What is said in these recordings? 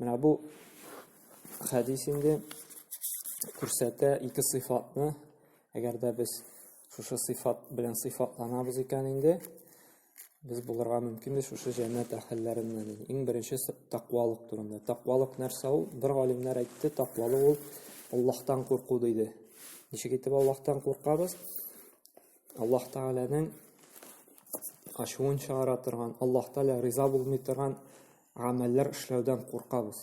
Менә бу хәдис инде күрсәтә ике сыйфатны. Әгәр дә без шушы сыйфат белән сыйфатланабыз икән инде, без булырга мөмкин дә шушы җәннәт әһелләреннән. Иң беренче тақвалык турында. Тақвалык нәрсә ул? Бер галимнәр әйтте, тақвалык ул Аллаһтан курку диде. Ничек итеп Аллаһтан куркабыз? Аллаһ Тәгаләнең ачуын чыгара торган, Аллаһ Тәгалә риза булмый торган гамәлләр эшләүдән куркабыз.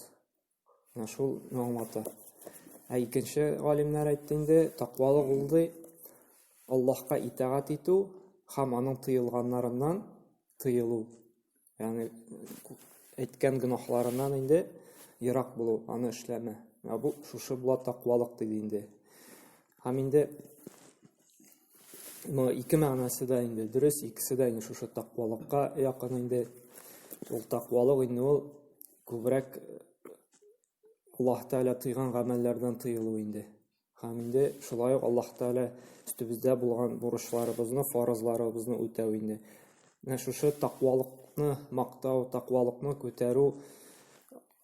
Менә шул аңлата. Ә икенче галимнәр әйтте инде, тәкъвалы булды, Аллаһка итагать итү һәм аның тыелганнарыннан тыелу. Ягъни әйткән гөнаһларыннан инде ерак булу, аны эшләмә. Менә бу шушы була тәкъвалык диде инде. Һәм инде Но ике мәгънәсе дә инде дөрес, икесе дә инде шушы тәкъвалыкка якын инде. Ул тәкъвалык инде ул күбрәк Аллаһ Тәгалә тыйган гамәлләрдән тыелу инде. Һәм инде шулай ук Аллаһ Тәгалә өстебездә булган бурычларыбызны, фарызларыбызны үтәү инде. Менә шушы тәкъвалыкны мактау, тәкъвалыкны күтәрү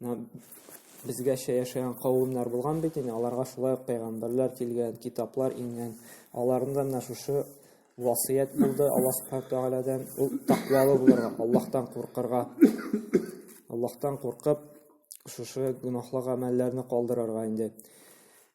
безгәчә яшәгән кавымнар булган бит инде, аларга шулай ук пәйгамбәрләр килгән, китаплар иңгән. Аларның да менә шушы васыять булды Аллаһ Субхану Тәгаләдән, ул тәкъвалы булырга, Аллаһтан куркырга. Аллаһтан куркып, шушы гөнаһлы гамәлләрне калдырырга инде.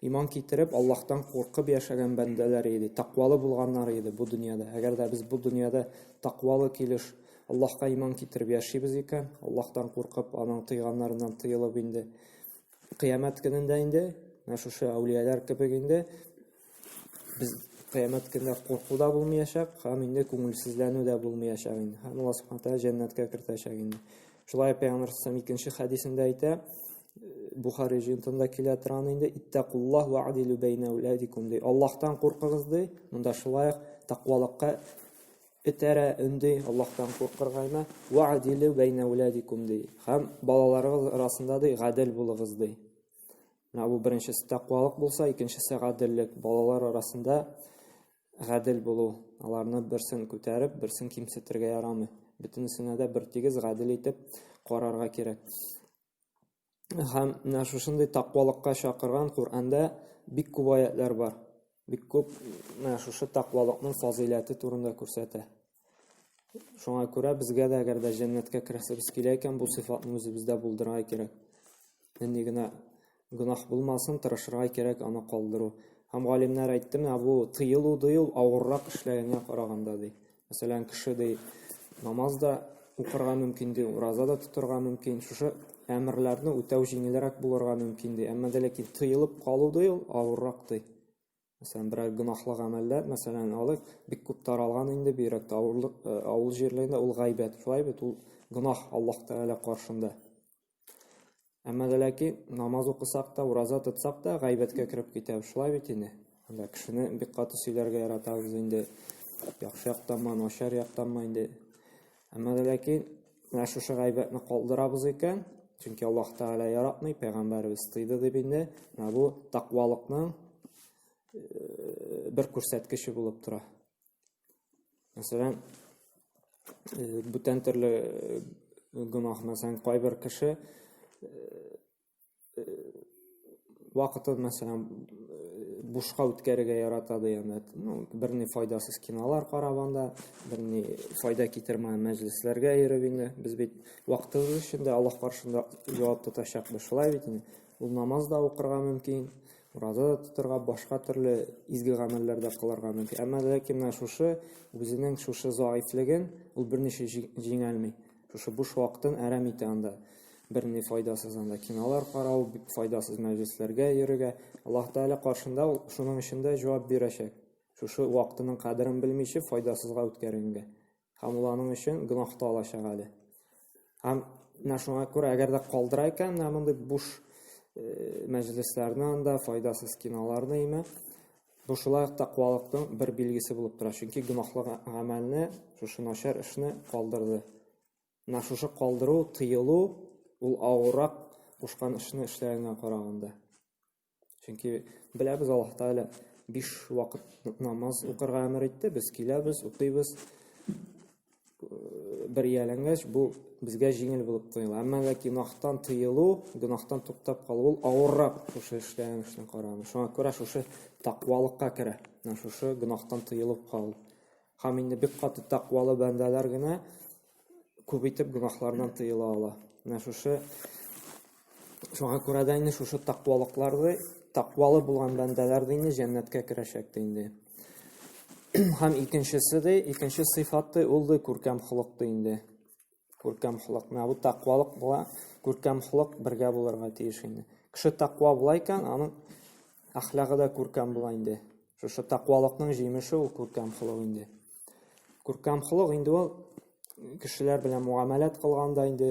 Иман китереп, Аллаһтан куркып яшәгән бәндәләр иде, тәкъвалы булганнар иде бу дөньяда. Әгәр дә без бу дөньяда тәкъвалы килеш Аллаһка иман китереп яшибез икән, Аллаһтан куркып, аның тыйганнарыннан тыелып инде, кыямәт көнендә инде, менә шушы әүлияләр кебек инде, без кыямәт көндә курку да булмаячак, һәм инде күңелсезләнү дә булмаячак инде. Һәм Аллаһ Субхану тәгалә җәннәткә кертәчәк инде. Шулай пәйгамбәр икенче хәдисендә әйтә, Бухари җыентында килә торган инде иттәкуллах ва адилу бәйнә уләдикум ди. Аллаһтан куркыгыз ди. Монда шулай ук тәкъвалыкка этәрә, өнди, Аллаһтан куркырга гына. Ва адилу бәйнә уләдикум ди. Һәм балаларыгыз арасында ди, гадел булыгыз ди. Менә бу беренчесе тәкъвалык булса, икенчесе гаделлек. Балалар арасында гадел булу. Аларны берсен күтәреп, берсен кимсетергә ярамый. Бөтенесенә дә бер тигез гадел итеп карарга кирәк. Һәм менә шушындый тәкъвалыкка чакырган Коръәндә бик күп аятлар бар. Бик күп менә шушы тәкъвалыкның фазыйләте турында күрсәтә. Шуңа күрә безгә дә әгәр дә җәннәткә керәсебез килә икән, бу сыйфатны үзебездә булдырырга кирәк. Нинди генә Гөнаһ булмасын, тырышырга кирәк аны калдыру. Һәм галимнәр әйтте менә бу тыелу ди ул авыррак эшләгәнгә караганда ди. Мәсәлән, кеше ди намаз да укырга мөмкин ди, ураза да тотарга мөмкин. Шушы әмерләрне үтәү җиңелрәк булырга мөмкин ди. Әмма дә ләкин тыелып калу ди ул авыррак ди. Мәсәлән, берәр гөнаһлы гамәлләр, мәсәлән, алык, бик күп таралган инде бигрәк авырлык, э, авыл җирлегендә ул гайбәт, шулай бит, ул гөнаһ Аллаһ Тәгалә каршында. Әмма дә ләкин намаз укысак та, ураза тотсак та, гайбәткә кереп китә, шулай бит инде. Анда кешене бик каты сөйләргә яратабыз инде. Яхшы яктанмы, начар яктанмы инде. Әмма ләкин менә шушы гайбәтне калдырабыз икән, чөнки Аллаһ Тәгалә яратмый, пәйгамбәребез тыйды дип инде, менә бу тәкъвалыкның бер күрсәткече булып тора. Мәсәлән, бүтән төрле гөнаһ, мәсәлән, кайбер кеше вакытын мәсәлән бушка үткәрергә ярата дигәндә ну берни файдасыз кинолар карап анда берни файда китермәгән мәҗлесләргә йөреп инде без бит вакытыбыз өчен дә аллаһ каршында җавап тотачакбыз шулай бит инде ул намаз да укырга мөмкин ураза да тотырга башка төрле изге гамәлләр дә кылырга мөмкин әмма ләкин менә шушы үзенең шушы заифлеген ул берничә җиңә алмый Шушы буш вакытын әрәм итә анда. Бер ни файдасыз анда кинолар карау, файдасыз мәҗлесләргә йөрергә. Аллаһ Тәгалә каршында ул шуның өчен дә җавап бирәчәк. Шушы вакытының кадерен белмичә файдасызга үткәргәнгә. Һәм ул аның өчен гөнаһ та алачак әле. Һәм менә шуңа күрә, әгәр дә калдыра икән, менә мондый буш мәҗлесләрне анда, файдасыз киноларны име, Бу шулай ук такъвалыкның бер билгесе булып тора, чөнки гөнаһлы гамәлне, шушы начар эшне калдырды. Менә шушы калдыру, тыелу ул авыррак кушкан эшне эшләгәнгә караганда. Чөнки беләбез Аллаһ Тәгалә биш вакыт намаз укырга әмер итте, без киләбез, укыйбыз. бер ияләнгәч, бу безгә җиңел булып тоела. Әмма ләки гөнаһтан тыелу, гөнаһтан туктап калу ул авыррак шушы эшләгән эшне караганда. Шуңа күрә шушы тәкъвалыкка керә. Менә шушы гөнаһтан тыелып калу. Һәм инде бик каты тәкъвалы бәндәләр генә күп итеп гөнаһлардан тыела ала. Менә шушы Шуңа күрә дә инде шушы тәкъвалыкларны, тәкъвалы булган бәндәләр дә инде җәннәткә керәчәк дә инде. Һәм икенчесе дә, икенче сыйфат та ул да күркәм холык да инде. Күркәм холык. Менә бу тәкъвалык була, күркәм холык бергә булырга тиеш инде. Кеше тәкъва була икән, аның әхлагы да күркәм була инде. Шушы тәкъвалыкның җимеше ул күркәм холык инде. Күркәм холык инде ул кешеләр белән муамәләт кылганда инде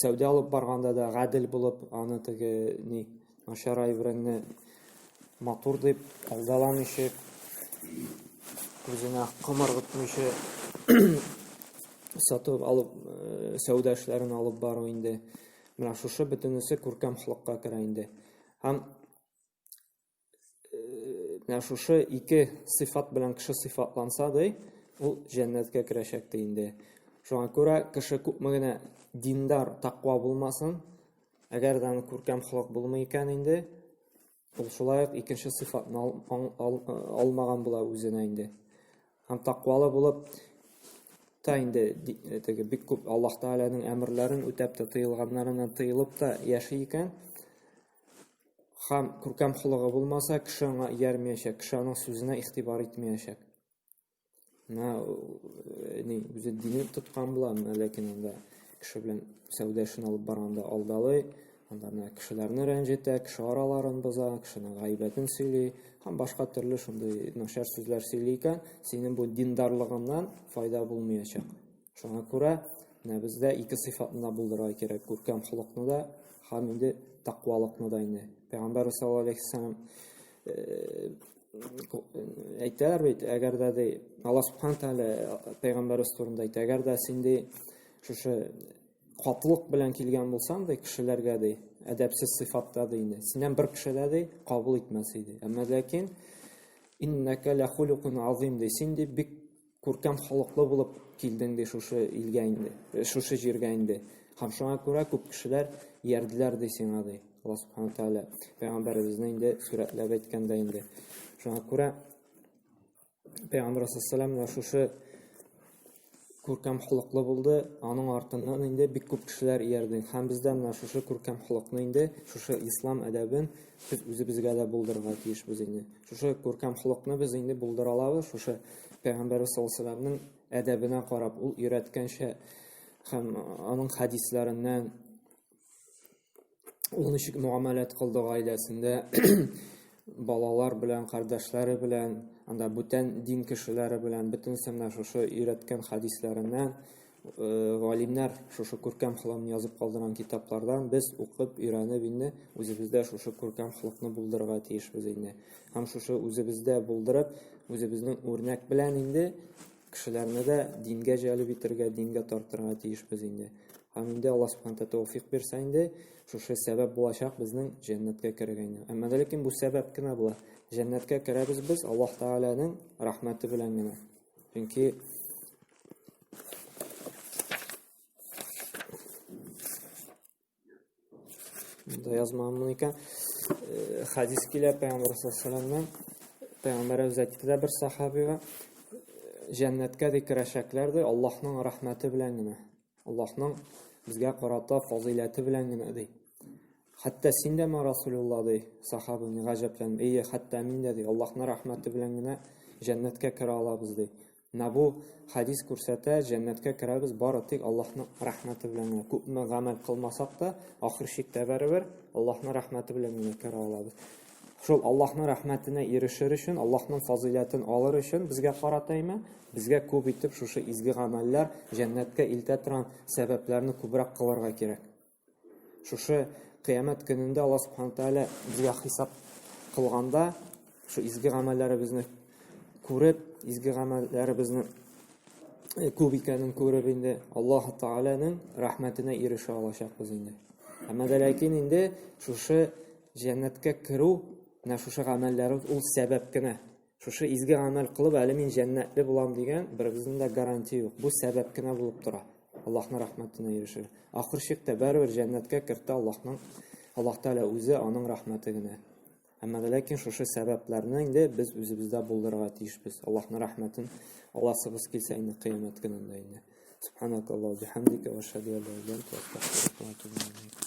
сәүдә алып барганда да гадел булып, аны теге ни начара евренне матур дип алдаланычы, үзенә кымыр гытмычы сатып алып э, сәүдә эшләрен алып бару инде. Менә шушы бөтенесе күркәм халыкка керә инде. Һәм менә шушы ике сыйфат белән кеше сыйфатланса ди ул җәннәткә керәчәк ди инде шуңа күрә кеше күпме генә диндар тақва булмасын әгәр дә аны күркәм холык булмый икән инде ул шулай ук икенче сыйфатны ал, ал, ал, алмаган була үзенә инде һәм тақвалы булып та инде теге бик күп аллаһ тәгаләнең әмерләрен үтәп тә тыелганнарыннан тыелып та яши икән Хам, күркәм холыгы булмаса, кеше аңа иярмәячәк, кеше аның сүзенә ихтибар итмәячәк. Менә э, ни, үзе дине тоткан була, менә ләкин анда кеше белән сәүдә эшен алып барганда алдалый, анда менә кешеләрне рәнҗетә, кеше араларын боза, кешенең гайбәтен сөйли һәм башка төрле шундый начар сүзләр сөйли икән, синең бу диндарлыгыңнан файда булмаячак. Шуңа күрә менә бездә ике сыйфатны да булдырырга кирәк, күркәм холыкны да һәм инде тәкъвалыкны да инде. Пәйгамбәр саллаллаһу алейһи вәсәлләм э, э, әйтәләр бит, әгәр дә ди, Алла субхан тәгалә э, пәйгамбәребез турында әйтә, әгәр дә син ди шушы катлык белән килгән булсаң ди кешеләргә ди, әдәпсез сыйфатта ди инде, синнән бер кеше дә ди кабул итмәс иде. Әмма ләкин иннәкә ләхулукун азим ди, син ди бик Күркәм халыклы булып килдең ди шушы илгә инде, шушы җиргә инде. Һәм шуңа күрә күп кешеләр иярделәр ди сиңа, ди. Аллаһ Субхана ва Тәгалә пәйгамбәребезне инде сурәтләп әйткәндә инде. Шуңа күрә пәйгамбәр саллаллаху алейһи шушы күркәм холыклы булды, аның артыннан инде бик күп кешеләр иярде. Һәм бездә менә шушы күркәм холыкны инде, шушы ислам әдәбен без үзебезгә дә булдырырга тиешбез инде. Шушы күркәм холыкны без инде булдыра алабыз, шушы Пәйгамбәрбез саллаллаһу алейһи ва сәлләмнең әдәбенә карап, ул өйрәткәнчә һәм аның хәдисләреннән ул ничек мөгамәләт кылды гаиләсендә, балалар белән, кардәшләре белән, анда бүтән дин кешеләре белән, бөтенесенә шушы өйрәткән хәдисләреннән галимнәр шушы күркәм халыкны язып калдырган китаплардан без укып, өйрәнеп инде үзебездә шушы күркәм халыкны булдырырга тиешбез инде. Һәм шушы үзебездә булдырып, үзебезнең үрнәк белән инде кешеләрне дә дингә җәлеп итергә, дингә тартырга тиешбез инде. Һәм инде Аллаһ Субхану тәгалә тәүфик бирсә инде, шушы сәбәп булачак безнең җәннәткә керергә инде. Әмма ләкин бу сәбәп кенә була. Җәннәткә керәбез без Аллаһ Тәгаләнең рәхмәте белән генә. Чөнки Бунда язмамын икән. Э, хадис килә Пәйгамбәр саллаллаһу Пәйгамбәр үзе әйтте бер сахабига э, җәннәткә ди керәчәкләр ди Аллаһның рәхмәте белән генә. Аллаһның безгә карата фазыйләте белән генә ди. Хәтта син дә ма Расулулла ди, сахабы ни гаҗәпләнеп, "Ие, хәтта мин дә ди, Аллаһның рәхмәте белән генә җәннәткә керә алабыз" ди. Менә бу хәдис күрсәтә, җәннәткә керәбез бары тик Аллаһның рәхмәте белән генә. Күпме гамәл кылмасак та, ахыр чиктә барыбер Аллаһның рәхмәте белән генә керә алабыз. Шул Аллаһның рәхмәтенә ирешер өчен, Аллаһның фазыйләтен алыр өчен безгә каратаймы? Безгә күп итеп шушы изге гамәлләр җәннәткә илтә торган сәбәпләрне күбрәк кылырга кирәк. Шушы кыямәт көнендә Аллаһ Субхану Тәгалә безгә хисап кылганда, шу изге гамәлләребезне күреп, изге гамәлләребезне э, күп икәнен күреп инде Аллаһ Тәгаләнең рәхмәтенә ирешә алачакбыз инде. Әмма дә ләкин инде шушы җәннәткә керү менә шушы гамәлләребез ул сәбәп кенә. Шушы изге гамәл кылып, әле мин җәннәтле булам дигән беребезнең дә гарантия юк. Бу сәбәп кенә булып тора. Аллаһның рәхмәтенә ирешер. Ахыр чиктә барыбер җәннәткә кертә Аллаһның Аллаһ Тәгалә үзе аның рәхмәте генә. Әмма ләкин шушы сәбәпләрне инде без үзебездә булдырырга тиешбез. Аллаһның рәхмәтен аласыбыз килсә инде кыямәт көнендә инде. Субханакаллаһу бихамдика ва ашһаду ан ла иляха илля анта астагфирука ва атубу илейк.